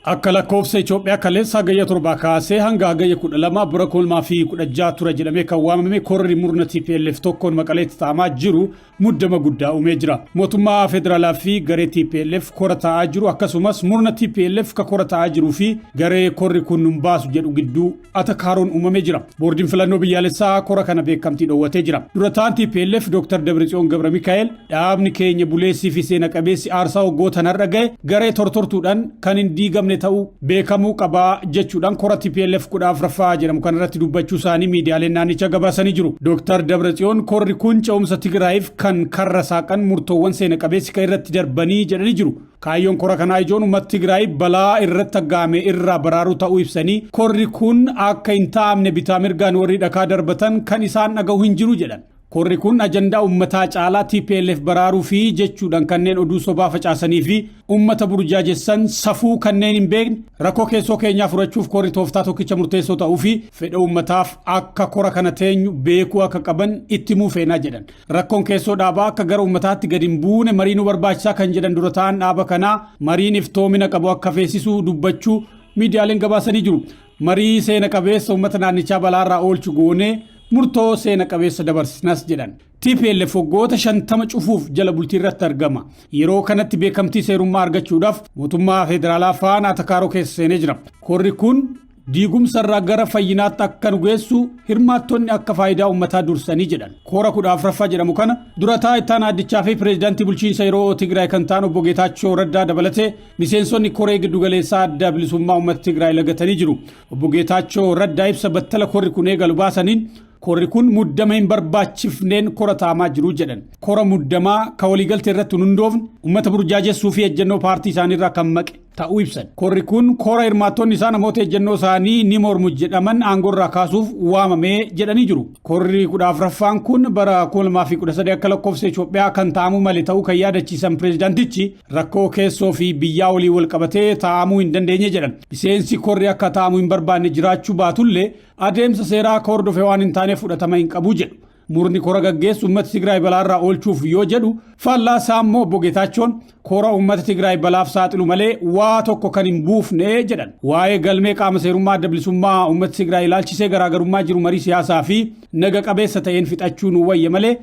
Akka lakkoofsa Itoophiyaa kaleessa Hagayya 7 kaasee hanga Hagayya 12 bara 2016 ture jedhamee kan waamame korri murna TPLF tokkoon Maqaleetti taa'amaa jiru muddama guddaa uumee jira. Mootummaa federaalaa fi garee TPLF kora taa'aa jiru akkasumas murna TPLF ka kora taa'aa jiruu fi garee korri kun nun baasu jedhu gidduu atakaaroon uumamee jira. Boordiin filannoo biyyaalessaa kora kana beekamtii dhoowwatee jira. Dura ta'an TPLF Dr. Dabritsiyoon Gabra Mikaa'el dhaabni keenya buleessii fi seena qabeessi aarsaa waggootan har'a gahe garee tortortuudhaan kan hin diigamne ta'uu beekamuu qabaa jechuudhaan kora TPLF kudha afraffaa jedhamu kanarratti dubbachuu isaanii miidiyaaleen naannicha gabaasanii jiru. Dr. Dabratsiyoon korri kun ce'umsa Tigraayiif kan karra saaqan murtoowwan seena qabeessi kan irratti darbanii jedhanii jiru. Kaayyoon kora kanaa ijoon uummata Tigraay balaa irratti aggaame irraa baraaruu ta'uu ibsanii, korri kun akka hin taa'amne bitaa mirgaan warri dhakaa darbatan kan isaan dhagahu hin jiru jedhan. Korri kun ajandaa uummataa caalaa tplf baraaruufi jechuudhan kanneen oduu sobaa facaasanii fi uummata burjaajessan safuu kanneen hin beekne rakkoo keessoo keenyaa furachuuf korri tooftaa tokkicha murteessoo ta'uu fi fedha uummataaf akka kora kana teenyu beekuu akka qaban itti himuu feenaa jedhan. Rakkoon keessoo dhaabaa akka gara ummataatti gadi hin buune marii nu barbaachisa kan jedhan dura ta'an dhaaba kanaa mariin iftoomina qabu akka feesisu dubbachuu miidiyaaleen gabaasanii jiru. Marii seena qabeessa ummata naannichaa balaarraa oolchu goonee murtoo seena qabeessa dabarsinas jedhan. TPLF waggoota shantama cufuuf jala bultii irratti argama. Yeroo kanatti beekamtii seerummaa argachuudhaaf mootummaa federaalaa faana atakaaroo keessa seenee jira. Korri kun diigumsarraa gara fayyinaatti akka nu geessu hirmaattonni akka faayidaa uummataa dursanii jedhan koora kudha afraffaa jedhamu kana durataa ittaan addichaa fi pireezidaantii bulchiinsa yeroo tigraay kan ta'an obbo Geetaachoo Raddaa dabalatee miseensonni koree giddugaleessaa adda bilisummaa uummata tigraay lagatanii jiru obbo Geetaachoo Raddaa ibsa battala korri kun eegalu baasaniin korri kun muddama hin barbaachifneen kora taamaa jiru jedhan kora muddamaa ka waliigalte irratti hin hundoofne uummata burjaajessuu fi ejjennoo paartii isaaniirraa kan maqe ta'uu ibsan. Korri kun kora hirmaattonni isaa namoota ejjennoo isaanii ni mormu jedhaman aangoo irraa kaasuuf waamame jedhanii jiru. Korri 14ffaan kun bara 2013 akka lakkoofsa Itoophiyaa kan taa'amuu male ta'uu kan yaadachiisan pireezidaantichi rakkoo keessoo fi biyyaa waliin wal qabatee taa'amuu hin dandeenye jedhan. Miseensi korri akka taa'amu hin barbaanne jiraachuu baatullee adeemsa seeraa akka hordofe waan hin taaneef fudhatama hin qabu jedhu. Murni kora gaggeessu uummata Tigraay balaarraa oolchuuf yoo jedhu faallaa isaa immoo obbo Geetaachoon kora uummata Tigraay balaaf saaxilu malee waa tokko kan hin buufne jedhan. Waa'ee galmee qaama seerummaa adda bilisummaa uummata Tigraay ilaalchisee garaagarummaa jiru marii siyaasaa fi naga qabeessa ta'een fixachuu nu wayya malee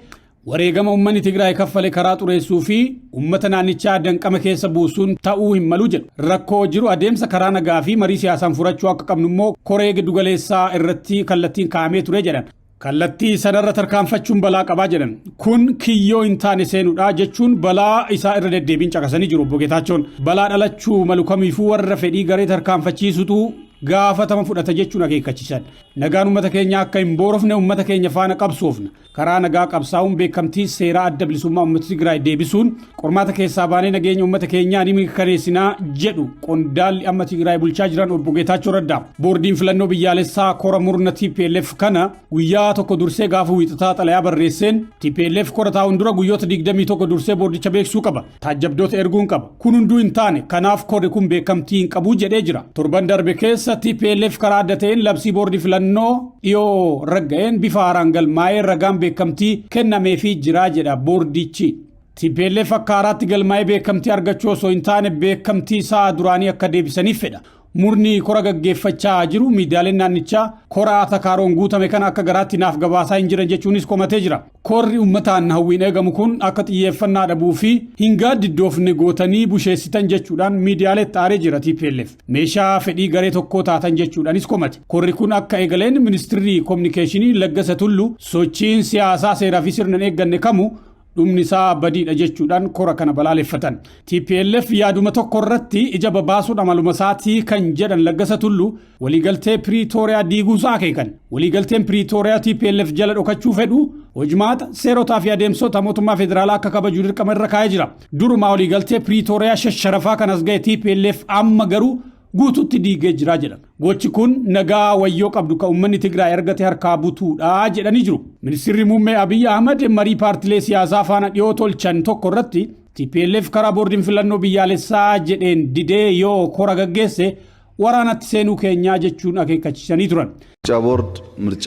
wareegama uummanni Tigraay kaffale karaa xureessuu fi uummata naannichaa danqama keessa buusuun ta'uu hin malu jedhu. Rakkoo jiru adeemsa karaa nagaa fi marii siyaasaan furachuu akka qabnu immoo koree giddugaleessaa irratti kallattiin kaa'amee ture jedhan. Kallattii sanarra tarkaanfachuun balaa qabaa jedhan. Kun kiyyoo hin taane seenuudha jechuun balaa isaa irra deddeebiin caqasanii jiru obbo Geetaachoon. Balaa dhalachuu malu kamiifuu warra fedhii garee tarkaanfachiisutu gaafatama fudhata jechuun akeekkachiisan. Nagaan uummata keenyaa akka hin boorofne uummata keenya faana qabsoofna. Karaa nagaa qabsaa'uun beekamtii seeraa adda bilisummaa uummata Tigraay deebisuun Qormaata keessaa baanee nageenya uummata keenyaa ni mirkaneessinaa jedhu qondaalli amma Tigraay bulchaa jiran obbo Geetaachoo Raddaa. Boordiin filannoo biyyaalessaa kora murna TPLF kana guyyaa tokko dursee gaafa wiixataa xalayaa barreesseen TPLF kora taa'uun dura guyyoota 21 dursee boordicha beeksisuu qaba. Taajjabdoota erguun qaba. Kun hunduu hin taane kanaaf korri kun beekamtii hin qabu jedhee jira. Torban darbe keessa TPLF karaa adda ta'een labsii boordii filannoo dhiyoo ragga'een bifa haaraan galmaa'ee ragaan beekamtii kennameefii jira jedha boordichi. Tplf akka haaraatti galmaa'ee beekamtii argachuu osoo hin taane beekamtii isaa duraanii akka deebisaniif fedha. Murni kora gaggeeffachaa jiru miidiyaaleen naannichaa kora atakaaroon guutame kana akka garaatti naaf gabaasaa hin jiran jechuunis komatee jira. Korri ummataan hawwiin eegamu kun akka xiyyeeffannaa dhabuu fi hin gaaddiddoofne gootanii busheessitan jechuudhaan miidiyaaleetti aaree jira tplf. Meeshaa fedhii garee tokkoo taatan jechuudhaanis komate. Korri kun akka eegaleen ministirri kominikeeshinii Laggasa Tullu sochiin siyaasaa seeraa fi sirna hin eegganne kamu dhumni isaa badiidha jechuudhaan kora kana balaaleffatan. TPLF yaaduma tokko irratti ija babaasuun amaluma isaatii kan jedhan Laggasa Tullu waliigaltee Piriitooriyaa diiguusaa akeekan. Waliigalteen Piriitooriyaa TPLF jala dhokachuu fedhu hojmaata seerotaa fi adeemsota mootummaa federaalaa akka kabaju dirqama irra kaa'ee jira. Durumaa waliigaltee Piriitooriyaa shasharafaa kanas ga'e TPLF amma garuu guututti diigee jira jedhan. Gochi kun nagaa wayyoo qabdu kan uummanni Tigraay argate harkaa butuudha jedhanii jiru. Ministirri Muummee Abiy Ahmad marii paartilee siyaasaa faana dhiyoo tolchan tokko irratti TPLF karaa boordiin filannoo biyyaalessaa jedheen didee yoo kora gaggeesse waraanatti seenuu keenyaa jechuun akeekkachiisanii turan. ምርጫ ቦርድ ምርጫ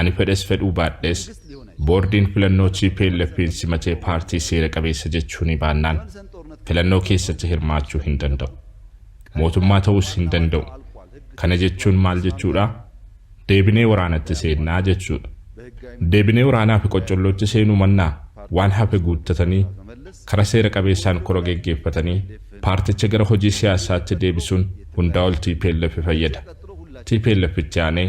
Ani fedhes fedhuu baadhes Boordiin filannoo TPLFn simatee paartii seera qabeessa jechuunii baannaan filannoo keessatti hirmaachuu hin danda'u. Mootummaa ta'uus hin danda'u. Kana jechuun maal jechuudhaa? Deebinee waraanatti seennaa jechuudha. Deebinee waraanaa fi qoccollootti seenuu mannaa waan hafe guuttatanii kara seera qabeessaan kora geggeeffatanii paarticha gara hojii siyaassaatti deebisuun hundaa ol tplf fayyada. Tplf itti aanee.